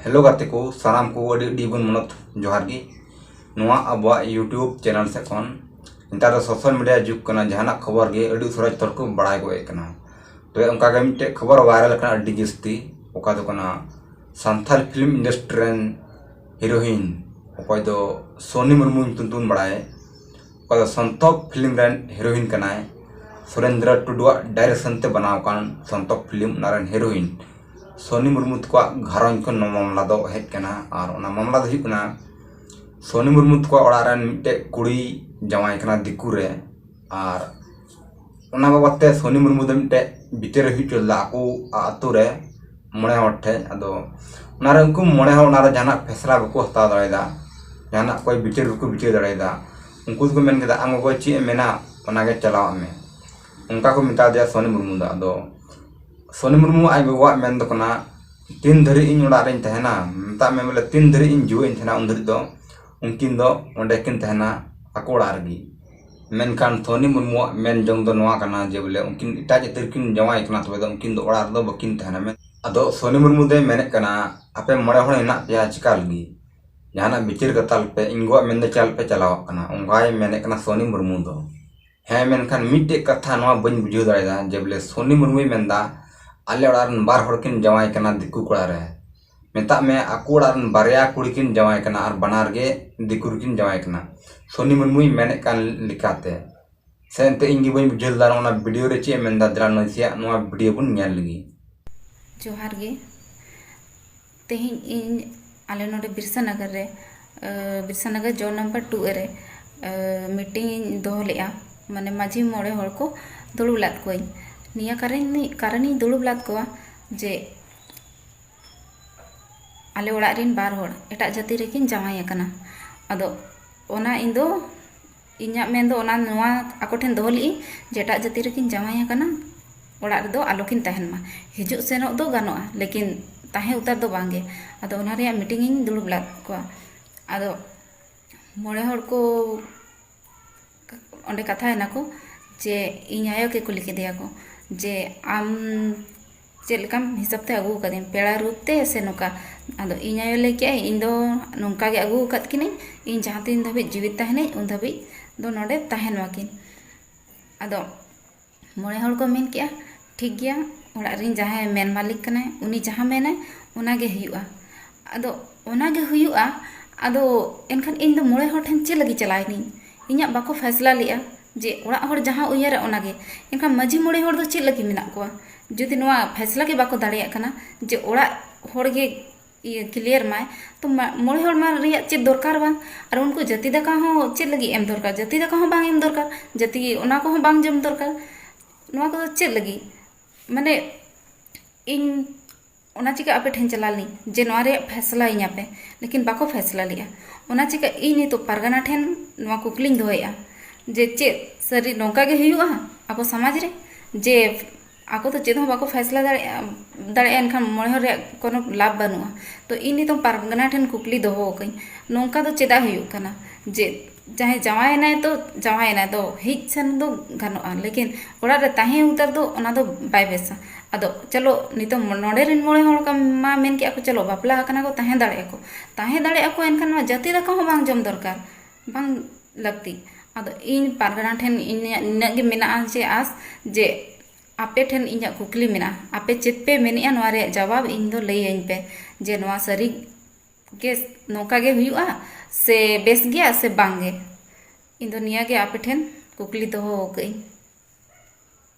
hello ᱜᱟᱛᱮ ᱠᱚ ᱥᱟᱱᱟᱢ ᱠᱚ ᱟᱹᱰᱤ ᱟᱹᱰᱤ ᱵᱚᱱ ᱢᱟᱱᱚᱛ ᱡᱚᱦᱟᱨ ᱜᱮ ᱱᱚᱣᱟ ᱟᱵᱚᱣᱟᱜ ᱤᱭᱩᱴᱩᱵᱽ ᱪᱮᱱᱮᱞ ᱥᱮᱫ ᱠᱷᱚᱱ ᱱᱮᱛᱟᱨ ᱫᱚ ᱥᱳᱥᱟᱞ ᱢᱤᱰᱤᱭᱟ ᱡᱩᱜᱽ ᱠᱟᱱᱟ ᱡᱟᱦᱟᱱᱟᱜ ᱠᱷᱚᱵᱚᱨ ᱜᱮ ᱟᱹᱰᱤ ᱩᱥᱟᱹᱨᱟ ᱡᱚᱛᱚ ᱦᱚᱲ ᱠᱚ ᱵᱟᱲᱟᱭ ᱜᱚᱫ ᱮᱜ ᱠᱟᱱᱟ ᱛᱚᱵᱮ ᱚᱱᱠᱟ ᱜᱮ ᱢᱤᱫᱴᱮᱡ ᱠᱷᱚᱵᱚᱨ ᱵᱷᱟᱭᱨᱟᱞ ᱠᱟᱱᱟ ᱟᱹᱰᱤ ᱡᱟᱹᱥᱛᱤ ᱚᱠᱟ ᱫᱚ ᱠᱟᱱᱟ ᱥᱟᱱᱛᱟᱲ ᱯᱷᱤᱞᱢ ᱤᱱᱰᱟᱥᱴᱨᱤ ᱨᱮᱱ ᱦᱤᱨᱳᱭᱤᱱ ᱚᱠᱚᱭ ᱫᱚ ᱥᱳᱱᱤ ᱢᱩᱨᱢᱩ ᱧᱩᱛᱩᱢ ᱛᱮᱵᱚᱱ ᱵᱟᱲᱟᱭᱮ ᱚᱠᱟ ᱫᱚ ᱥᱚᱱᱛᱚᱠ ᱯᱷᱤᱞᱤᱢ ᱨᱮᱱ ᱦᱤᱨᱳᱭᱤᱱ ᱠᱟᱱᱟᱭ ᱥᱩᱨᱮᱱᱫᱨᱚ ᱴᱩᱰᱩᱣᱟᱜ ᱰᱟᱭᱨᱮᱠᱥᱚᱱ ᱛᱮ ᱵᱮᱱᱟᱣ ᱟᱠᱟᱱ ᱥᱚᱱᱛᱚᱠ ᱯᱷᱤᱞᱤᱢ ᱚᱱᱟ ᱨᱮᱱ ᱦᱤᱨᱳᱭᱤᱱ ᱥᱳᱱᱤ ᱢᱩᱨᱢᱩ ᱛᱟᱠᱚᱣᱟᱜ ᱜᱷᱟᱨᱚᱸᱡᱽ ᱠᱷᱚᱱ ᱱᱚᱣᱟ ᱢᱟᱢᱞᱟ ᱫᱚ ᱦᱮᱡ ᱟᱠᱟᱱᱟ ᱟᱨ ᱚᱱᱟ ᱢᱟᱢᱞᱟ ᱫᱚ ᱦᱩᱭᱩᱜ ᱠᱟᱱᱟ ᱥᱳᱱᱤ ᱢᱩᱨᱢᱩ ᱛᱟᱠᱚᱣᱟᱜ ᱚᱲᱟᱜ ᱨᱮᱱ ᱢᱤᱫᱴᱮᱱ ᱠᱩᱲᱤᱭ ᱡᱟᱶᱟᱭᱮ ᱠᱟᱱᱟ ᱫᱤᱠᱩ ᱨᱮ ᱟᱨ ᱚᱱᱟ ᱵᱟᱵᱚᱛ ᱛᱮ ᱥᱳᱱᱤ ᱢᱩᱨᱢᱩ ᱫᱚ ᱢᱤᱫᱴᱮᱡ ᱵᱤᱪᱟᱹᱨ ᱮ ᱦᱩᱭ ᱦᱚᱪᱚ ᱞᱮᱫᱟ ᱟᱠᱚ ᱟᱛᱳ ᱨᱮ ᱢᱚᱬᱮ ᱦᱚᱲ ᱴᱷᱮᱡ ᱟᱫᱚ ᱚᱱᱟᱨᱮ ᱩᱱᱠᱩ ᱢᱚᱬᱮ ᱦᱚᱲ ᱚᱱᱟᱨᱮ ᱡᱟᱦᱟᱱᱟᱜ ᱯᱷᱚᱭᱥᱟᱞᱟ ᱵᱟᱠᱚ ᱦᱟᱛᱟᱣ ᱫᱟᱲᱮᱭᱟᱫᱟ ᱡᱟᱦᱟᱱᱟᱜ ᱚᱠᱚᱭ ᱵᱤᱪᱟᱹᱨ ᱵᱟᱠᱚ ᱵᱤᱪᱟᱹᱨ ᱫᱟᱲᱮᱭᱟᱫᱟ ᱩᱱᱠᱩ ᱫᱚᱠᱚ ᱢᱮᱱ ᱠᱮᱫᱟ ᱟᱢ ᱜᱚᱜᱚ ᱪᱮᱫ ᱮᱢ ᱢᱮᱱᱟ ᱚᱱᱟᱜᱮ ᱪᱟᱞᱟᱣ ᱟᱜ ᱢᱮ ᱚᱱᱠᱟ ᱠᱚ ᱢᱮᱛᱟ ᱫᱮᱭᱟ ᱥᱳᱱᱤ ᱢᱩᱨᱢᱩ ᱫᱚ ᱟᱫᱚ ᱥᱳᱱᱤ ᱢᱩᱨᱢᱩ ᱟᱡ ᱜᱚᱜᱚᱣᱟᱜ ᱢᱮᱱ ᱫᱚ ᱠᱟᱱᱟ ᱛᱤᱱ ᱫᱷᱟᱹᱨᱤᱡ ᱤᱧ ᱚᱲᱟᱜ ᱨᱤᱧ ᱛᱟᱦᱮᱱᱟ ᱢᱮᱛᱟᱜ ᱢᱮ ᱵᱚᱞᱮ ᱛᱤᱱ ᱫᱷᱟᱹᱨᱤᱡ ᱤᱧ ᱡᱤᱣᱮᱫ ᱤᱧ ᱛᱟᱦᱮᱱᱟ ᱩᱱ ᱫᱷᱟᱹᱨᱤᱡ ᱫᱚ ᱩᱱᱠᱤᱱ ᱫᱚ ᱚᱸᱰᱮ ᱠᱤᱱ ᱛᱟᱦᱮᱱᱟ ᱟᱠᱚ ᱚᱲᱟᱜ ᱨᱮᱜᱮ ᱢᱮᱱᱠᱷᱟᱱ ᱛᱷᱚᱱᱤ ᱢᱩᱨᱢᱩᱣᱟᱜ ᱢᱮᱱ ᱡᱚᱝ ᱫᱚ ᱱᱚᱣᱟ ᱠᱟᱱᱟ ᱡᱮ ᱵᱚᱞᱮ ᱩᱱᱠᱤᱱ ᱮᱴᱟᱜ ᱡᱟᱹᱛᱤ ᱨᱮᱠᱤᱱ ᱡᱟᱶᱟᱭ ᱠᱟᱱᱟ ᱛᱚᱵᱮ ᱫᱚ ᱩᱱᱠᱤᱱ ᱫᱚ ᱚᱲᱟᱜ ᱨᱮᱫᱚ ᱵᱟᱹᱠᱤᱱ ᱛᱟᱦᱮᱱᱟ ᱢᱮᱱ ᱟᱫᱚ ᱥᱚᱱᱤ ᱢᱩᱨᱢᱩ ᱫᱚᱭ ᱢᱮᱱᱮᱫ ᱠᱟᱱᱟ ᱟᱯᱮ ᱢᱚᱬᱮ ᱦᱚᱲ ᱦᱮᱱᱟᱜ ᱯᱮᱭᱟ ᱪᱮᱠᱟ ᱞᱟᱹᱜᱤᱫ ᱡᱟᱦᱟᱱᱟᱜ ᱵᱤᱪᱟᱹᱨ ᱠᱟᱛᱟᱞ ᱯᱮ ᱤᱧ ᱜᱚᱣᱟᱜ ᱢᱮᱱ ᱫᱚ ᱪᱮᱫᱟᱜ ᱯᱮ ᱪᱟᱞᱟᱣᱟᱜ ᱠᱟᱱᱟ ᱚᱱᱠᱟᱭ ᱢᱮᱱᱮᱫ ᱠᱟᱱᱟ ᱥᱚᱱᱤ ᱢᱩᱨᱢᱩ ᱫᱚ ᱦᱮᱸ ᱢᱮᱱᱠᱷᱟᱱ ᱢᱤᱫᱴᱮᱡ ᱠᱟᱛᱷᱟ ᱱᱚᱣᱟ ᱵᱟᱹᱧ ᱵᱩᱡᱷᱟᱹᱣ ᱫᱟᱲᱮᱭᱟᱫᱟ ᱡᱮ ᱵᱚᱞᱮ ᱥᱚᱱᱤ ᱢᱩᱨᱢᱩᱭ ᱢᱮᱱᱫᱟ ᱟᱞᱮ ᱚᱲᱟᱜ ᱨᱮᱱ ᱵᱟᱨ ᱦᱚᱲ ᱠᱤᱱ ᱡᱟᱶᱟᱭ ᱠᱟᱱᱟ ᱫᱤᱠᱩ ᱠᱚᱲᱟ ᱨᱮ ᱢᱮᱛᱟᱜ ᱢᱮ ᱟᱠᱚ ᱚᱲᱟᱜ ᱨᱮᱱ ᱵᱟᱨᱭᱟ ᱠᱩᱲᱤ ᱠᱤᱱ ᱡᱟᱶᱟᱭ ᱠᱟᱱᱟ ᱟᱨ ᱵᱟᱱᱟᱨ ᱜᱮ ᱫᱤᱠᱩ ᱨᱮᱠᱤᱱ ᱡᱟᱶᱟᱭ ᱠᱟᱱᱟ ᱥᱳᱱᱤ ᱢᱩᱨᱢᱩᱭ ᱢᱮᱱᱮᱫ ᱠᱟᱱ ᱞᱮᱠᱟᱛᱮ ᱥᱮ ᱮᱱᱛᱮᱫ ᱤᱧ ᱜᱮ ᱵᱟᱹᱧ ᱵᱩᱡᱷᱟᱹᱣ ᱞᱮᱫᱟ ᱱᱚᱣᱟ ᱵᱷᱤᱰᱭᱳ ᱨᱮ ᱪᱮᱫ ᱮ ᱢᱮᱱᱫᱟ ᱫᱮᱞᱟ ᱱᱟᱥᱮᱭᱟᱜ ᱱᱚᱣᱟ ᱵᱷᱤᱰᱭᱳ ᱵᱚᱱ ᱧᱮᱞ ᱞᱮᱜᱮ ᱡᱚᱦᱟᱨ ᱜᱮ ᱛᱮᱦᱮᱧ ᱤᱧ ᱟᱞᱮ ᱱᱚᱰᱮ ᱵᱤᱨᱥᱟ ᱱᱚᱜᱚᱨ ᱨᱮ Birsa Nagar zone number two A ᱨᱮ ᱢᱤᱴᱤᱝ ᱤᱧ ᱫᱚᱦᱚ ᱞᱮᱫᱼᱟ ᱢᱟᱱᱮ ᱢᱟᱹᱡᱷᱤ ᱢᱚᱬᱮ ᱦᱚᱲ ᱠᱚ ᱫᱩᱲᱩᱵ ᱞᱮᱫ ᱠᱚᱣᱟᱧ ᱱᱤᱭᱟᱹ ᱠᱟᱨᱚᱱ ᱤᱧ ᱫᱩᱲᱩᱵ ᱞᱮᱫ ᱠᱚᱣᱟ ᱡᱮ ᱟᱞᱮ ᱚᱲᱟᱜ ᱨᱮᱱ ᱵᱟᱨ ᱦᱚᱲ ᱮᱴᱟᱜ ᱡᱟᱹᱛᱤ ᱨᱮᱠᱤᱱ ᱡᱟᱶᱟᱭ ᱟᱠᱟᱱᱟ ᱟᱫᱚ ᱚᱱᱟ ᱤᱧ ᱫᱚ ᱤᱧᱟᱹᱜ ᱢᱮᱱ ᱫᱚ ᱚᱱᱟ ᱱᱚᱣᱟ ᱟᱠᱚ ᱴᱷᱮᱱ ᱫᱚᱦᱚ ᱞᱮᱫᱟᱹᱧ ᱡᱮ ᱮᱴᱟᱜ ᱡᱟᱹᱛᱤ ᱨᱮᱠᱤᱱ ᱡᱟᱶᱟᱭ ᱟᱠᱟᱱᱟ ᱚᱲᱟᱜ ᱨᱮᱫᱚ ᱟᱞᱚ ᱠᱤᱱ ᱛᱟᱦᱮᱱ ᱢᱟ ᱦᱤᱡᱩᱜ ᱥᱮᱱᱚᱜ ᱫᱚ ᱜᱟᱱᱚᱜᱼᱟ ᱞᱮᱠᱤᱱ ᱛᱟᱦᱮᱸ ᱩᱛᱟᱹᱨ ᱫᱚ ᱵᱟᱝ ᱜᱮ ᱟᱫᱚ ᱚᱱᱟ ᱨᱮᱭᱟᱜ ᱢᱤᱴᱤᱝ ᱤᱧ ᱫᱩᱲᱩᱵ ᱞᱮᱫ ᱠᱚᱣᱟ ᱟᱫᱚ ᱢᱚᱬᱮ ᱦᱚᱲ ᱠᱚ ᱚᱸᱰᱮ ᱠᱟᱛᱷᱟᱭᱮᱱᱟᱠᱚ ᱡᱮ ᱤᱧ ᱟᱭᱳ ᱜᱮ ᱠᱩᱞᱤ ᱠᱮᱫᱮᱭᱟᱠᱚ ᱡᱮ ᱟᱢ ᱪᱮᱫ ᱞᱮᱠᱟᱢ ᱦᱤᱥᱟᱹᱵ ᱛᱮ ᱟᱹᱜᱩ ᱠᱟᱫᱮᱭᱟ ᱯᱮᱲᱟ ᱨᱩᱯ ᱛᱮ ᱥᱮ ᱱᱚᱝᱠᱟ ᱟᱫᱚ ᱤᱧ ᱟᱭᱳ ᱞᱟᱹᱭ ᱠᱮᱜᱼᱟᱭ ᱤᱧ ᱫᱚ ᱱᱚᱝᱠᱟ ᱜᱮ ᱟᱹᱜᱩ ᱟᱠᱟᱫ ᱠᱤᱱᱟᱹᱧ ᱤᱧ ᱡᱟᱦᱟᱸ ᱛᱤᱱ ᱫᱷᱟᱹᱵᱤᱡ ᱡᱤᱣᱮᱫ ᱛᱟᱦᱮᱱᱟᱹᱧ ᱩᱱ ᱫᱷᱟᱹᱵᱤᱡ ᱫᱚ ᱱᱚᱰᱮ ᱛᱟᱦᱮᱱ ᱢᱟᱠᱤᱱ ᱟᱫᱚ ᱢᱚᱬᱮ ᱦᱚᱲ ᱠᱚ ᱢᱮᱱ ᱠᱮᱜᱼᱟ ᱴᱷᱤᱠ ᱜᱮᱭᱟ ᱚᱲᱟᱜ ᱨᱮᱱ ᱡᱟᱦᱟᱸᱭ ᱢᱮᱱ ᱢᱟᱹᱞᱤᱠ ᱠᱟᱱᱟᱭ ᱩᱱᱤ ᱡᱟᱦᱟᱸ ᱢᱮᱱᱟᱭ ᱚᱱᱟᱜᱮ ᱦᱩᱭᱩᱜᱼᱟ ᱟᱫᱚ ᱚᱱᱟᱜᱮ ᱦᱩᱭᱩᱜᱼᱟ ᱟᱫᱚ ᱮᱱᱠᱷᱟᱱ ᱤᱧᱫᱚ ᱢᱚᱬᱮ ᱦᱚᱲ ᱴᱷᱮᱱ ᱪᱮᱫ ᱞᱟᱹᱜᱤᱫ ᱪᱟᱞᱟᱣ ᱮᱱᱟᱹᱧ ᱤᱧᱟᱹᱜ ᱵᱟᱠᱚ ᱯᱷᱚᱭᱥᱟᱞᱟ ᱞᱮᱜᱼᱟ ᱡᱮ ᱚᱲᱟᱜ ᱦᱚᱲ ᱡᱟᱦᱟᱸ ᱩᱭᱦᱟᱹᱨᱟ ᱚᱱᱟᱜᱮ ᱮᱱᱠᱷᱟᱱ ᱢᱟᱹᱡᱷᱤ ᱢᱚᱬᱮ ᱦᱚᱲ ᱫᱚ ᱪᱮᱫ ᱞᱟᱹᱜᱤᱫ ᱢᱮᱱᱟᱜ ᱠᱚᱣᱟ ᱡᱩᱫᱤ ᱱᱚᱣᱟ ᱯᱷᱚᱭᱥᱟᱞᱟ ᱜᱮ ᱵᱟᱠᱚ ᱫᱟᱲᱮᱭᱟᱜ ᱠᱟᱱᱟ ᱡᱮ ᱚᱲᱟᱜ ᱦᱚᱲᱜᱮ ᱤᱭᱟᱹ ᱠᱞᱤᱭᱟᱨ ᱢᱟᱭ ᱛᱚ ᱢᱚᱬᱮ ᱦᱚᱲ ᱢᱟ ᱨᱮᱭᱟᱜ ᱪᱮᱫ ᱫᱚᱨᱠᱟᱨ ᱵᱟᱝ ᱟᱨ ᱩᱱᱠᱩ ᱡᱟᱹᱛᱤ ᱫᱟᱠᱟ ᱦᱚᱸ ᱪᱮᱫ ᱞᱟᱹᱜᱤᱫ ᱮᱢ ᱫᱚᱨᱠᱟᱨ ᱡᱟᱹᱛᱤ ᱫᱟᱠᱟ ᱦᱚᱸ ᱵᱟᱝ ᱮᱢ ᱫᱚᱨᱠᱟᱨ ᱡᱟᱹᱛᱤ ᱚᱱᱟ ᱠᱚᱦᱚᱸ ᱵᱟᱝ ᱡᱚᱢ ᱫᱚᱨᱠᱟᱨ ᱱᱚᱣᱟ ᱠᱚᱫᱚ ᱪᱮᱫ ᱞᱟᱹᱜᱤᱫ ᱢᱟᱱᱮ ᱤᱧ ᱚᱱᱟ ᱪᱤᱠᱟᱹ ᱟᱯᱮ ᱴᱷᱮᱱ ᱪᱟᱞᱟᱣ ᱞᱤᱱᱟᱹᱧ ᱡᱮ ᱱᱚᱣᱟ ᱨᱮᱭᱟᱜ ᱯᱷᱮᱭᱥᱟᱞᱟ ᱤᱧᱟᱹ ᱯᱮ ᱞᱮᱠᱤᱱ ᱵᱟᱠᱚ ᱯᱷᱮᱭᱥᱟᱞᱟ ᱞᱮᱜᱼᱟ ᱚᱱᱟ ᱪᱤᱠᱟᱹ ᱤᱧ ᱱᱤᱛᱚᱜ ᱯᱟᱨᱜᱟᱱᱟ ᱴᱷᱮᱱ ᱱᱚᱣᱟ ᱠᱩᱠᱞᱤᱧ ᱫᱚᱦᱚᱭᱮᱜᱼᱟ ᱡᱮ ᱪᱮᱫ ᱥᱟᱹᱨᱤ ᱱᱚᱝᱠᱟ ᱜᱮ ᱦᱩᱭᱩᱜᱼᱟ ᱟᱵᱚ ᱥᱚᱢᱟᱡᱽ ᱨᱮ ᱡᱮ ᱟᱠᱚ ᱫᱚ ᱪᱮᱫ ᱦᱚᱸ ᱵᱟᱠᱚ ᱯᱷᱟᱭᱥᱟᱞᱟ ᱫᱟᱲᱮᱭᱟᱜᱼᱟ ᱫᱟᱲᱮᱭᱟᱜᱼᱟ ᱮᱱᱠᱷᱟᱱ ᱢᱚᱬᱮ ᱦᱚᱲ ᱨᱮᱭᱟᱜ ᱠᱳᱱᱳ ᱞᱟᱵᱷ ᱵᱟᱹᱱᱩᱜᱼᱟ ᱛᱚ ᱤᱧ ᱱᱤᱛᱚᱜ ᱯᱟᱨᱜᱟᱱᱟ ᱴᱷᱮᱱ ᱠᱩᱠᱞᱤ ᱫᱚᱦᱚ ᱟᱠᱟᱫᱟᱹᱧ ᱱᱚᱝᱠᱟ ᱫᱚ ᱪᱮᱫᱟᱜ ᱦᱩᱭᱩᱜ ᱠᱟᱱᱟ ᱡᱮ ᱡᱟᱦᱟᱸᱭ ᱡᱟᱶᱟᱭᱮᱱᱟᱭ ᱛᱚ ᱡᱟᱶᱟᱭᱮᱱᱟᱭ ᱛᱚ ᱦᱮᱡ ᱥᱮᱱ ᱫᱚ ᱜᱟᱱᱚᱜᱼᱟ ᱞᱮᱠᱤᱱ ᱚᱲᱟᱜ ᱨᱮ ᱛᱟᱦᱮᱸ ᱩᱛᱟᱹᱨ ᱫᱚ ᱚᱱᱟ ᱫᱚ ᱵᱟᱭ ᱵᱮᱥᱟ ᱟᱫᱚ ᱪᱚᱞᱚ ᱱᱤᱛᱚᱜ ᱱᱚᱰᱮ ᱨᱮᱱ ᱢᱚᱬᱮ ᱦᱚᱲ ᱢᱟ ᱢᱮᱱ ᱠᱮᱫᱟ ᱠᱚ ᱪᱚᱞᱚ ᱵᱟᱯᱞᱟ ᱟᱠᱟᱱᱟ ᱠᱚ ᱛᱟᱦᱮᱸ ᱫᱟᱲᱮᱭᱟᱜᱼᱟ ᱠᱚ ᱛᱟᱦᱮᱸ ᱫᱟᱲᱮᱭᱟᱜᱼᱟ ᱠᱚ ᱮᱱᱠᱷᱟᱱ ᱢᱟ ᱡᱟᱹᱛᱤ ᱫᱟᱠᱟ ᱦᱚᱸ ᱵᱟᱝ ᱡᱚᱢ ᱫᱚᱨᱠᱟᱨ ᱵᱟᱝ ᱞᱟᱹᱠᱛᱤ ᱟᱫᱚ ᱤᱧ ᱯᱟᱨᱜᱟᱱᱟ ᱴᱷᱮᱱ ᱤᱧᱟᱹᱜ ᱱᱤᱱᱟᱹᱜ ᱜᱮ ᱢᱮᱱᱟᱜᱼᱟ ᱡᱮ ᱟᱥ ᱡᱮ ᱟᱯᱮ ᱴᱷᱮᱱ ᱤᱧᱟᱹᱜ ᱠᱩᱠᱞᱤ ᱢᱮᱱᱟᱜᱼᱟ ᱟᱯᱮ ᱪᱮᱫ ᱯᱮ ᱢᱮᱱᱮᱜᱼᱟ ᱱᱚᱣᱟ ᱨᱮᱭᱟᱜ ᱡᱟᱵᱟᱵ ᱤᱧ ᱫᱚ ᱞᱟᱹᱭ ᱟᱹᱧ ᱯᱮ ᱡᱮ ᱱᱚᱣᱟ ᱥᱟᱹᱨᱤ ᱜᱮ ᱱᱚᱝᱠᱟ ᱜᱮ ᱦᱩᱭᱩᱜᱼᱟ ᱥᱮ ᱵᱮᱥ ᱜᱮᱭᱟ ᱥᱮ ᱵᱟᱝ ᱜᱮ ᱤᱧ ᱫᱚ ᱱᱤᱭᱟᱹ ᱜᱮ ᱟᱯᱮ ᱴᱷᱮᱱ ᱠᱩᱠᱞᱤ ᱫᱚᱦᱚ ᱠᱟᱜ ᱟᱹᱧ